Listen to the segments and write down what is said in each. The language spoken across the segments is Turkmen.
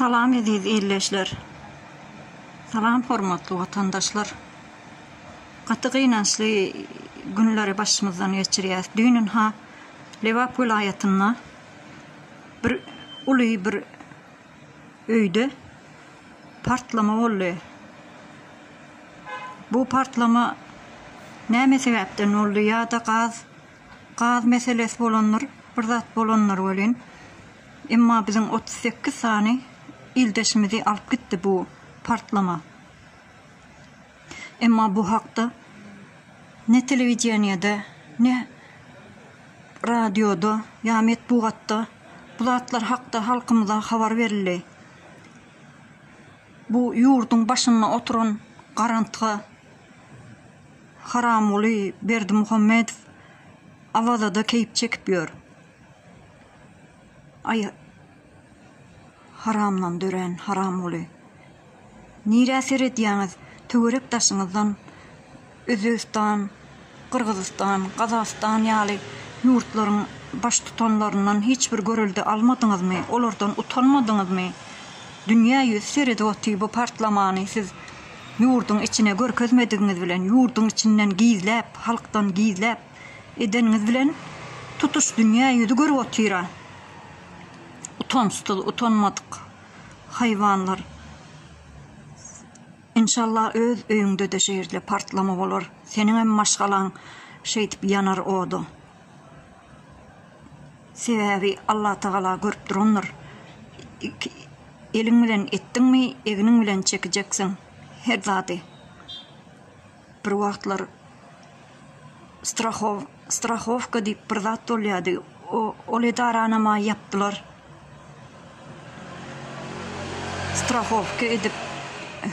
Salam eziz ildeşler. Salam hormatly watandaşlar. Gaty gynançly günleri başymyzdan geçirýäs. Düýnünha Lebap welaýatynda bir uly bir öýde partlama boldy. Bu partlama näme sebäpden boldy ýa-da gaz Gaz meselesi bolandyr, bir zat bolandyr welin, emma biziň otuz sekiz sany ildeşimizi alyp gitdi bu partlama. Emma bu hakda ne telewideniýede, ne radioda ýa metbugatda bu zatlar hakda halkymyza habar berildi. Bu ýurduň başynda oturan garantga. Haramguly Berdimuhamedow Awazada keýp çekip ýör. Aý haramdan dörän Haramguly. Nirä seredýäňiz töwerek daşyňyzdan Özbegistan, Gyrgyzystan, Gazagystan ýaly ýurtlaryň baştutanlaryndan hiç bir görelde almadyňyzmy, olardan utanmadyňyzmy? Dünýä ýüz seredip otyr bu partlamany siz Ýurduň içine görkezmedigiňiz bilen, ýurduň içinden gizläp, halkdan gizläp edeniňiz bilen tutuş dünýä ýüzi görüp otyra. Utançsyz, utanmadyk haýwanlar. Inşalla öz öýüňde-de şeýle partlama bolar. Seniňem maşgalaň şeýdip ýanar oda. Sebäbi Allatagala görüp durandyr. Iki eliň bilen etdiňmi, egniň bilen çekijeksiň her zady. Bir wagtlar strahow, strahowka diýip bir zat bolýardy, o, ol edaranam-a ýapdylar. Strahowka edip,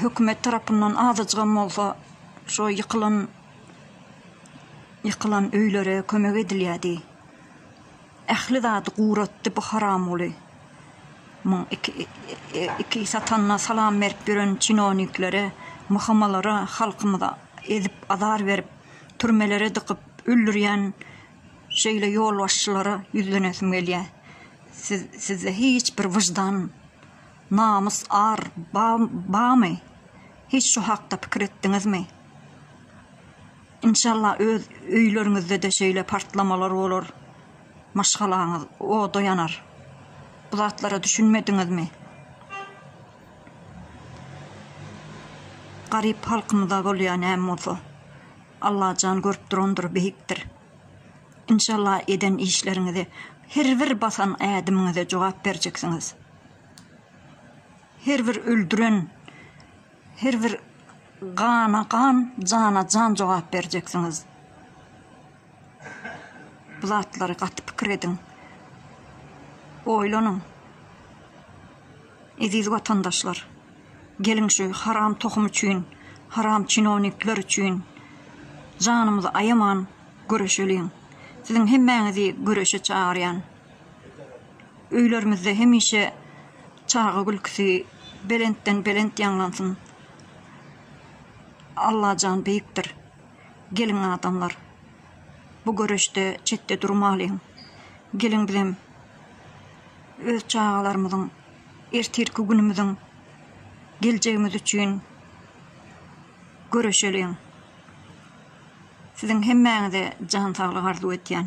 hökümet tarapyndan azajygam bolsa, şo ýykylan. Ýykylan öýlere kömek edilýädi. Ähli zady guratdy bu haramguly. Muň iki satanyna salam berip ýören çinowniklere, myhamalara halkymyzy ezip azar berip, türmelere dykyp öldürýän şeýle ýolbaşçylara ýüzlenesim gelýä. Siz sizde hiç bir wyždan, namys, ar bamy? Hiç şu hakda pikir etdiňizmi? Inşallah öz öýleriňizdede şeýle partlamalar bolar. Maşgalaňyz oda ýanar. Bu zatlara düşünmediňizmi? Garyp halkymyza bolýar näme bolsa. Allajan görüp durandyr, beýikdir. Inşallah eden işleriňize, her bir basan ädimiňize jogap berjeksiňiz. Her bir öldüren Her bir gana gan, jana jan jogap berjeksiňiz. Bu zatlary gaty pikir ediň. Oýlanyň. Eziz watandaşlar, geliň şu haram tohum üçin, haram çinownikler üçin janymyzy aýaman göreşeliň. Siziň hemmäňizi göreşe çagyrýan. Öýlerimizde hemişe çaga gülkisi belentden belent ýaňlansyn. Allajan beýikdir. Geliň adamlar. Bu göreşde çetde durmalyň. Geliň bizem öz çagalarymyzyň ertirki günümiziň geljegimiz üçin göreşeliň. Siziň hemmäňize jan saglyk arzuw etýän.